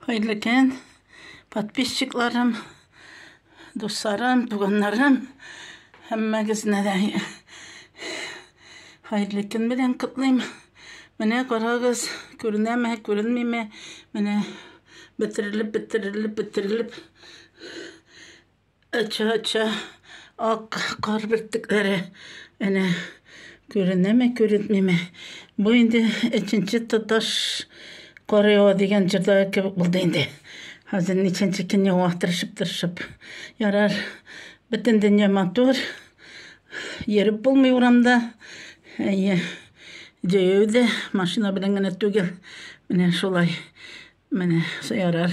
Хәерле көн, подписчикларым, дусларым, туганнарым, һәммәгезне дә хәерле көн белән котлыйм. Менә карагыз, күренәме, күренмиме, менә бетерелеп, бетерелеп, бетерелеп Ача-ача ак кар бөртекләре әнә күренәме, күренмиме. Бу инде өченче тоташ кар ява дигән җырда кебек булды инде. Хәзер ничәнче көн ява тырышып-тырышып. Ярар, бөтен дөнья матур. Йөреп булмый урамда. Әйе, җәяү дә, машина белән генә түгел. Менә шулай. Менә ярар.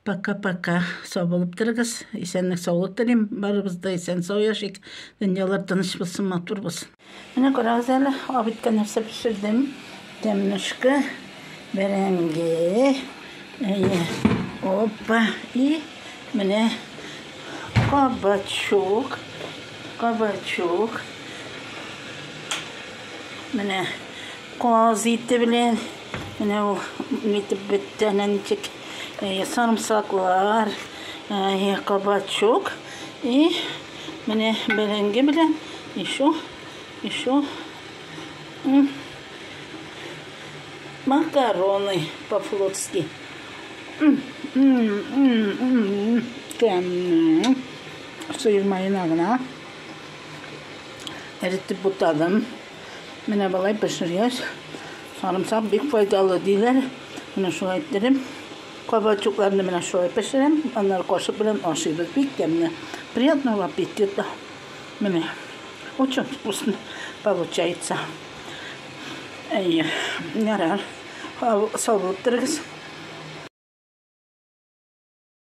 Пока-пока. Сау булып торыгыз. Исәнлек саулык телим. Барыбыз да исән сау яшик. Дөньялар тыныч булсын, матур булсын. Менә карагыз әле, абиткә нәрсә пешердем. Тәмнешкә, бәрәңге. Әйе. Опа. И менә кабачук. Кабачук. Менә каз ите белән Менә ул нитеп бетте, әнә ничек сарымсаклар, кабачок. И менә бәрәңге белән еще, еще макароны по-флотски. Тәмле. Сыер маена гына эретеп бутадым. Менә болай пешергәч, сарымсак бик файдалы диләр. Менә шулай иттереп, кабачукларны менә шулай пешерәм. Аннары кашык белән ашыйбыз. Бик тәмле. Приятного аппетита. Менә. Очень вкусно получается. Әйе, ярар. Сау булып торыгыз.